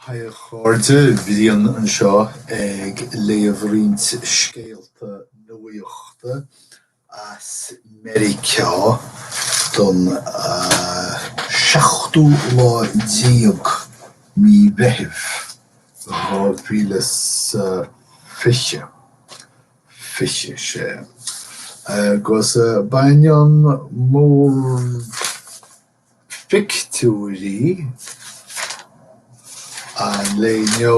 Hi a chairde, Brian anseo ag léamh roinnt scéalta nuaíochta as Meiriceá don seachtú lá déag mí Mheithimh, 2000. 26. Agus baineann mórphictiúirí an lae inniu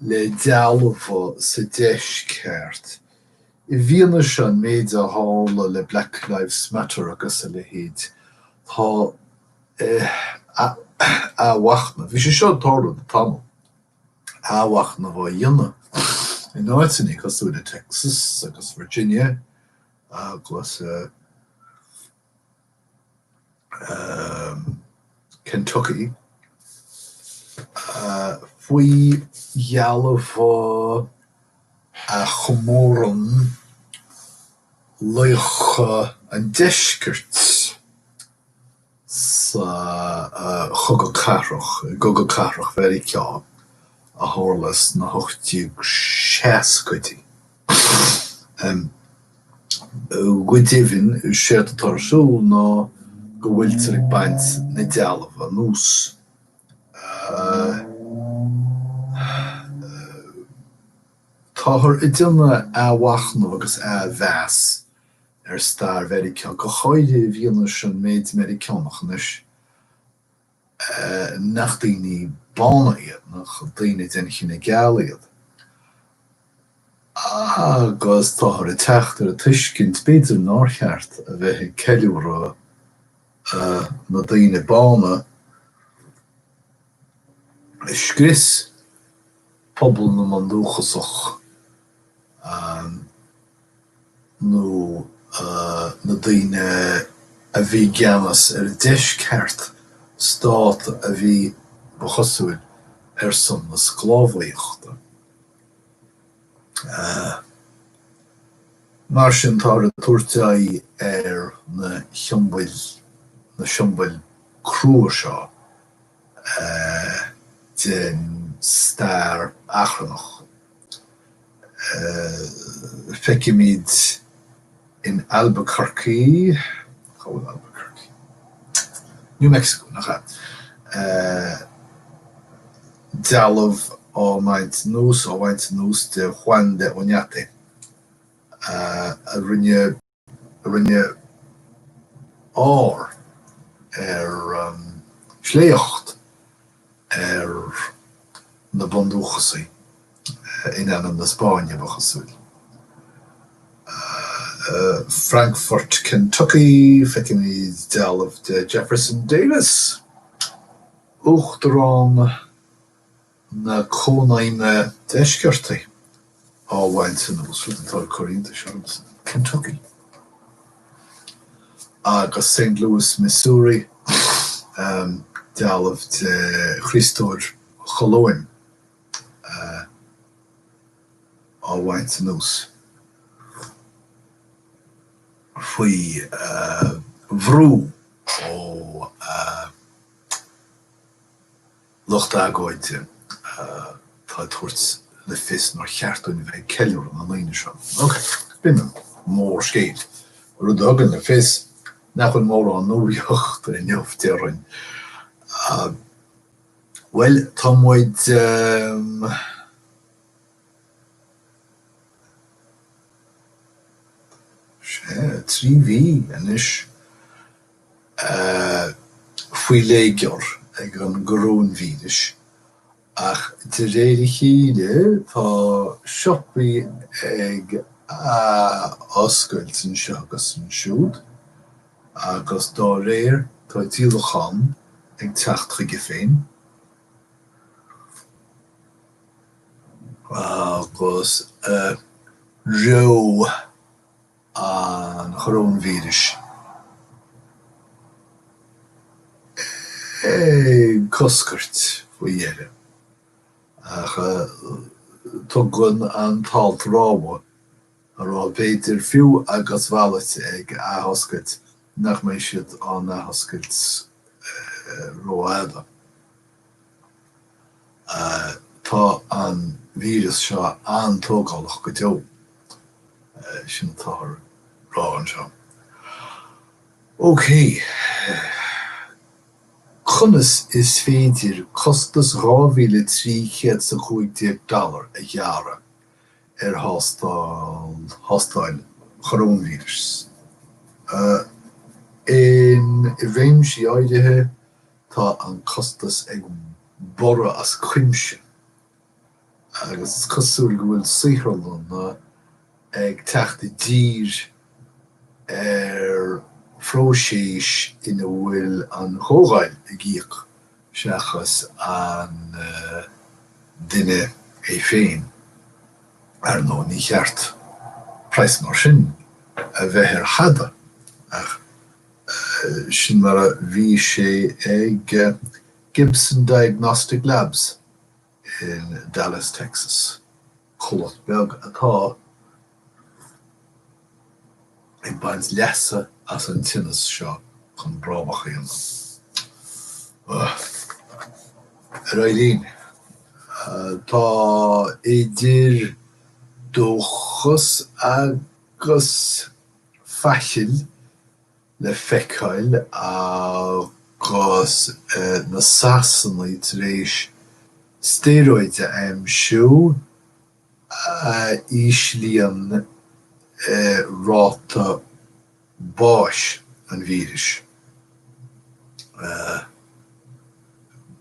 le dealbha sa Deisceart, i bhfianaise an méid a tharla le Black Lives Matter agus a leithéid, tá athmhachnamh, bhí sé seo ag tarlú le tamall, athmhachnamh á dhéanamh in áiteanna cosúil le Texas agus Virginia agus Kentucky faoi dhealbha a chomórann laochra an deiscirt. sa Chogadh Cathrach, i gCogadh Cathrach Mheiriceá a tharla sna hocht-déag-seascaidí. Go deimhin, séard atá ar siúl ná go bhfuiltear ag baint na dealbh anuas Táthar ag déanamh athmhachnamh agus athmheas ar stair Mheiriceá, go háirithe i bhfianaise an méid Meiriceánach anois nach daoine bána iad, nach daoine den chine geal iad. Agus táthar ag teacht ar an tuiscint, b'fhéidir, nár cheart a bheith ag ceiliúradh na daoine bána a scrios pobal na mBundúchasach. nó na daoine a bhí i gceannas ar an deisceart, stát a bhí, ba chosúil, ar son na sclábhaíochta. Mar sin, táthar ag tabhairt aghaidh ar na siombail, na siombail crua seo den stair achrannach. Feicimid in Albuquerque, cá bhfuil Albuquerque? New Mexico, nach ea? dealbh á mbaint anuas, á bhaint anuas de Juan de Oñate, a rinne. rinne ár agus sléacht ar na bundúchasaigh in ainm na Spáinne, ba chosúil. Frankfort, Kentucky, feicimid dealbh de Jefferson Davis, uachtarán na. na cónaidhme deisceartaí á bhaint anuas, rud atá ag cur iontais ormsa, Kentucky agus Saint Louis, Missouri, dealbh de Chríostóir Cholóin á bhaint anuas faoi bhrú ó lucht agóide atá ag tabhairt le fios nár cheart dúinn a bheith ag ceiliúradh na ndaoine seo. Ok. B'in an mórscéal. Rud a thugann le fios nach bhfuil mórán nuaíochta inniu, déarfainn. Bhuel, tá muid sea, trí mhí anois a faoi léigear ag an gcoróinvíris, ach de réir a chéile tá siopaí ag athoscailt anseo agus ansiúd agus dá réir tá díolachán ag teacht chuige féin agus reo. an choróinvíris. Ag coscairt faoi dheireadh, ach tugann an t-alt rabhadh a rá b'fhéidir fiú agus bailte ag athoscailt nach mbeidh siad á n-athoscailt rófhada. Tá an víreas seo an-tógálach go deo, sin atáthar ag rá anseo. OK. Conas is féidir costas 2,300 's 15 dollar a ghearradh ar thástáil choróinvíris? In réimsí áirithe, Tá an costas ag borradh as cuimse agus is cosúil go bhfuil saotharlanna ag teacht i dtír ar phróiséis ina bhfuil an chomhdháil ag íoc seachas an duine é féin. Ar ndóigh, ní cheart price mar sin a bheith ar thada ach. Sin mar a bhí sé ag Gibson Diagnostic Labs in Dallas, Texas, comhlacht beag atá ag baint leasa as an tinneas seo chun brabach a dhéanamh. Ar aghaidh linn. Tá idir dhóchas agus. faichill le feiceáil agus na Sasanaigh tar éis stéaróid a aimsiú a íslíonn an ráta báis an víris.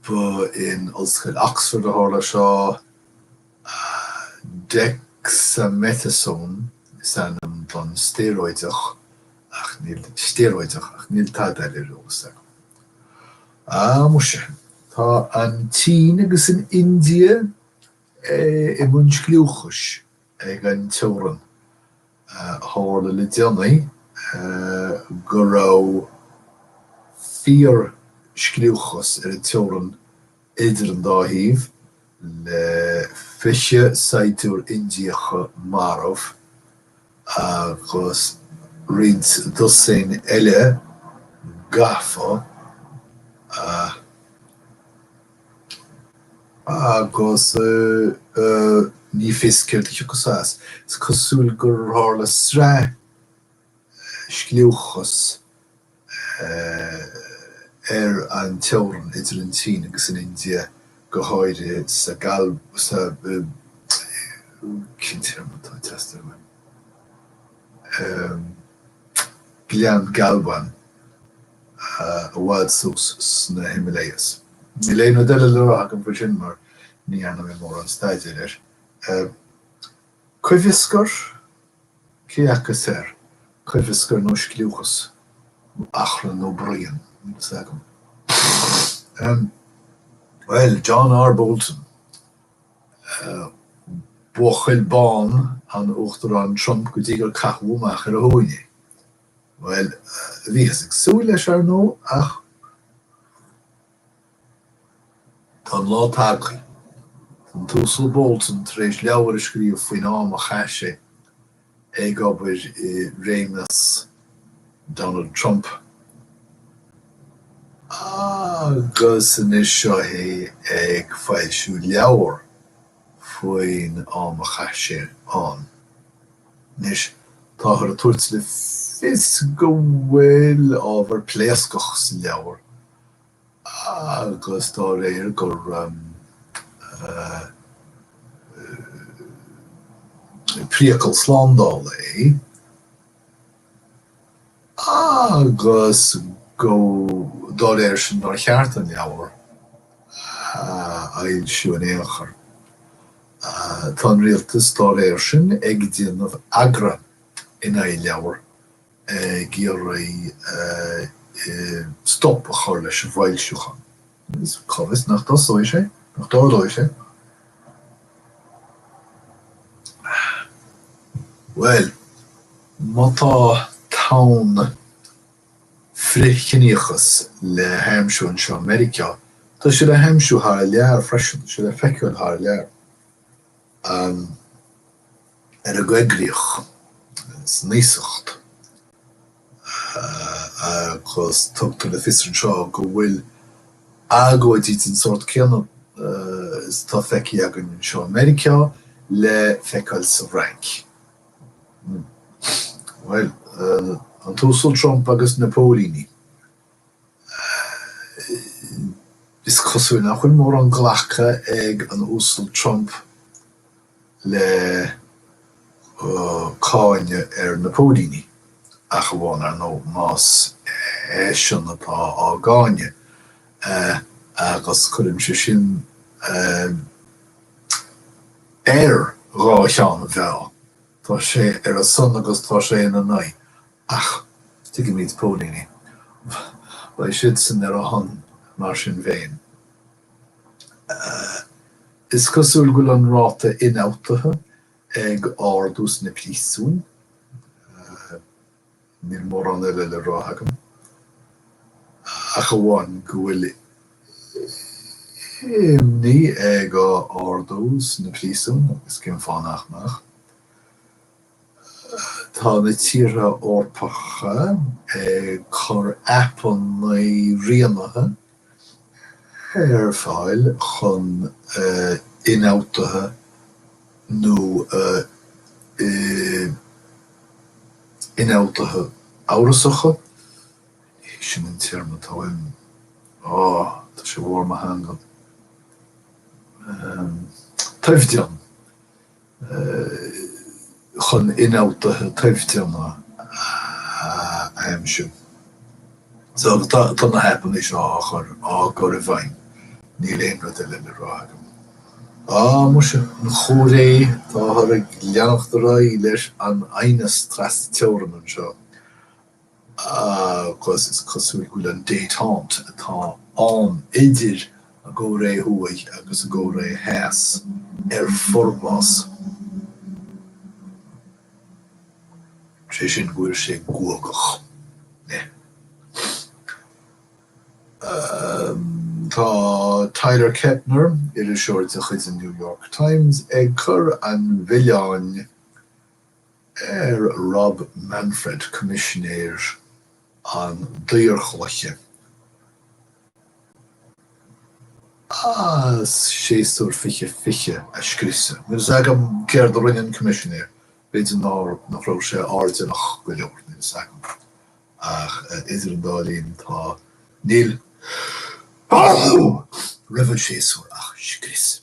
Ba in Ollscoil Oxford a tharla seo, an dexamethasone. Is ainm don stéaróideach ach stéaróideach ach níl tada ar eolas agam. Ah muise, tá an tSín agus an India i mbun scliúchais ag an teorann. Tharla le déanaí go raibh fíor scliúchas ar an teorann idir an dá thaobh, le 20 saighdiúirí Indiacha marbh agus roinnt dosaen eile gafa agus ní fios céard a thiocfas as. Is cosúil gur tharla sraith scliúchas ar an teorann idir an tSín agus an India, go háirithe sa Ghleann Galwan i bhfad suas sna Himalayas. Níl aon cheo eile le rá agam faoi sin mar ní dhearna mé mórán staidéir air. Coimheascar? Cé acu is fhearr, coimheascar nó scliúchas? Nó achrann nó bruíon? Níl fhios agam. Ahem. Bhuel, John R. Bolton, buachaill bán an Uachtaráin Trump go dtí gur caitheadh amach ar a thóin é. Bhuel, bhíothas ag súil leis, ar ndóigh, ach. Tá an lá tagtha. Tá an tUasal Bolton tar éis leabhar a scríobh faoin am a chaith sé ag obair i réimeas Donald Trump agus anois seo é ag foilsiú leabhar faoin am a chaith sé ann. Anois, táthar ag tabhairt le fios go bhfuil ábhar pléascach sa leabhar. agus dá réir gur priacal slándála é, agus go dá réir sin, nár cheart an leabhar a fhoilsiú in aon chor. Tá an Rialtas, dá réir sin, ag déanamh agra in aghaidh leabhar ag iarraidh stop a chur leis an bhfoilsiúchán. Is cá bhfios nach dtosóidh sé, nach dtarlóidh sé. Bhuel, má tá tonn frith-chiníochas le haimsiú anseo i Meiriceá, tá sé le haimsiú thar lear freisin, tá sé le feiceáil thar lear. ar an gcoigríoch, san iasacht, agus tugtar le fios anseo go bhfuil agóidí den sórt céanna is atá feicthe againn anseo i Meiriceá le feiceáil sa bhFrainc. Bhuel, an tUasal Trump agus na póilíní. Is cosúil nach bhfuil mórán glactha ag an Uasal Trump le cáineadh ar na póilíní, ach amháin, ar ndóigh, más eisean atá á gcáineadh, agus cuireann sé sin ar dhá cheann an mheá, tá sé ar a son agus tá sé ina n-aghaidh, Ach tuigimid póilíní. Beidh siadsan ar a son mar sin féin. Is cosúil go bhfuil an ráta ionfhabhtaithe ag ardú sna príosúin. Níl mórán eile le rá agam, ach amháin go bhfuil imní ag ardú sna príosúin, agus cén fáth nach mbeadh. Tá na tíortha Eorpacha ag cur aipeanna rianaithe ar fáil chun ionfhabhtuithe nó ionfhabhtuithe amhrasacha, sin an téarma atá uaim, oh tá sé bharr mo theanga, toimhdean. chun ionfhabhtuithe toimhdeana a aimsiú. So, tá na haipeanna seo á chur, á gcur i bhfeidhm. Níl aon rud eile le rá agam. Á, muise, an Chóiré, táthar ag leanacht ar aghaidh leis an aighneas tras-teorann anseo, agus is cosúil go bhfuil an détente atá ann idir an gCóiré Thuaidh agus an gCóiré Theas ar forbhás, sé sin, go bhfuil sé guagach. Tá Tyler Kepner, iriseoir de chuid an New York Times, ag cur an mhilleáin. ar Rob Manfred, Coimisinéir an Daorchluiche, as séasúr 20 20 a scriosadh. Níl a fhios agam céard a rinne an Coimisinéir, b'fhéidir nach raibh sé airdeallach go leor, níl a fhios agam, ach idir an dá linn tá. níl roimh an séasúr ach scrios.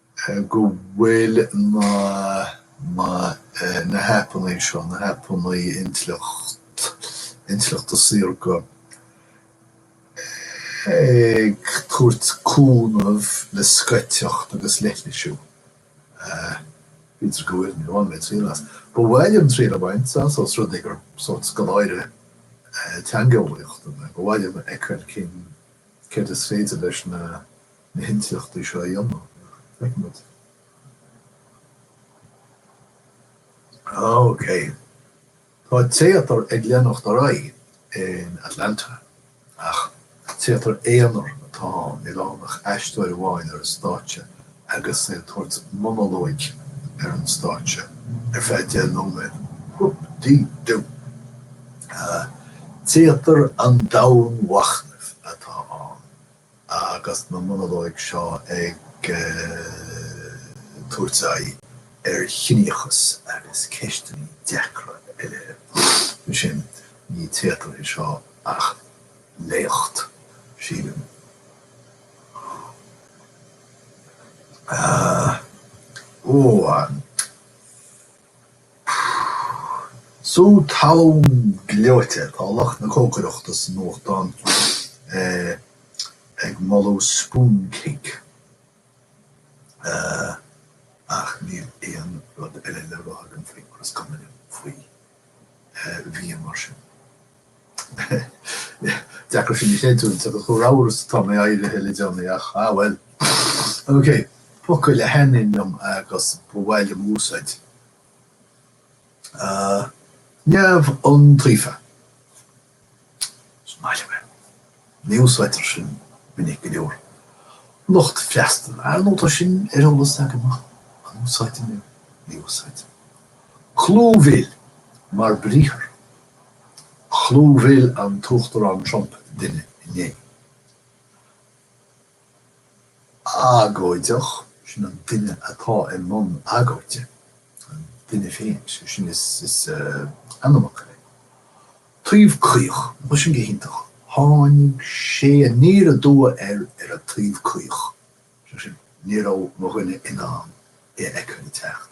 go bhfuil na haipeanna seo, na haipeanna intleacht intleachta saorga, ag tabhairt cúnamh le scoiteacht agus leithlisiú. B'fhéidir go bhfuil, ní bhaineann mé triail as. Ba mhaith liom triail a bhaint as, os rud é gur sórt scoláire teangeolaíochta mé, ba mhaith liom a fheiceáil cén céard is féidir leis na, na hintíochtaí seo a dhéanamh. Feicimid. Ah ok. Tá téatar ag leanacht ar aghaidh in Atlanta, ach téatar aonair atá ann, níl ann ach aisteoir amháin ar an stáitse agus é ag tabhairt monalóig ar an stáitse ar feadh deich nóiméad. Whoop-dee-doo! Téatar an domhainmhachnaimh atá ann. Agus na monalóig seo ag tabhairt aghaidh ar chiníochas agus ceisteanna deacra eile, ansin ní téatar é seo ach léacht, sílim. Ahh. Ó! Sú talún gleoite. Tá lucht na cócaireachta sa nuachtán ag moladh spoon cake ach níl aon rud eile le rá agam faoi agus is cuma liom faoi bhia mar sin. Deacair sin a chreidiúint, agus chomh ramhar is atá mé éirithe le déanaí, ach ah bhuel. OK, focail a thaitníonn liom agus ba mhaith liom a úsáid. Neamhiontaofa. Is maith liom é. Ní úsáidtear sin minic go leor. Lucht freastail, ar ndóigh tá sin ar eolas agam ach an úsáidim é? Ní úsáidim. Clúmhíl, mar briathar. Chlúmhil an tUachtarán Trump duine inné. Agóideach, sin an duine atá i mbun agóide, an duine féin, sin is ainmfhocal é. Taobh caoch, bhuel sin go hiontach, tháinig sé aniar aduaidh air ar an taobh caoch, is é sin, ní raibh mo dhuine in ann é a fheiceáil ag teacht.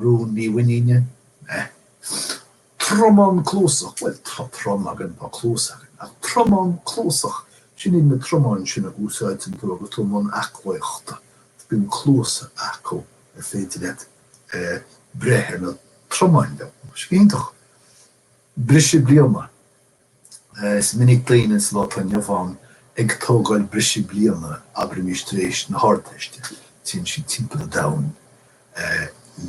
rún mímhuiníne, meh, tromán cluasach, bhuel, tá trom againn, tá cluas againn, ach tromán cluasach, sin iad na tromáin sin a úsáideann tú agus tú i mbun aclaíochta, bíonn cluasa acu ar féidir leat breith ar na tromáin leo, sin iontach. briseadh bliana. Is minic daoine sa lá atá inniu ann ag tógáil briseadh bliana, abraimis tar éis na hArdteiste, téann siad timpeall an domhain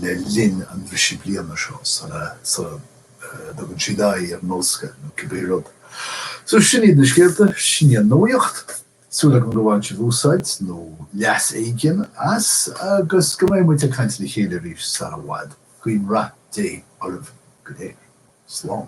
le linn an bhriseadh bliana seo sula dtugann siad aghaidh ar an ollscoil nó cibé rud. So, sin iad na scéalta, sin í an nuaíocht. Súil agam go bhain sibh úsáid, nó leas éigin, as agus go mbeidh muid ag caint le chéile arís sara bhfad. Guím rath Dé oraibh go léir. Slán.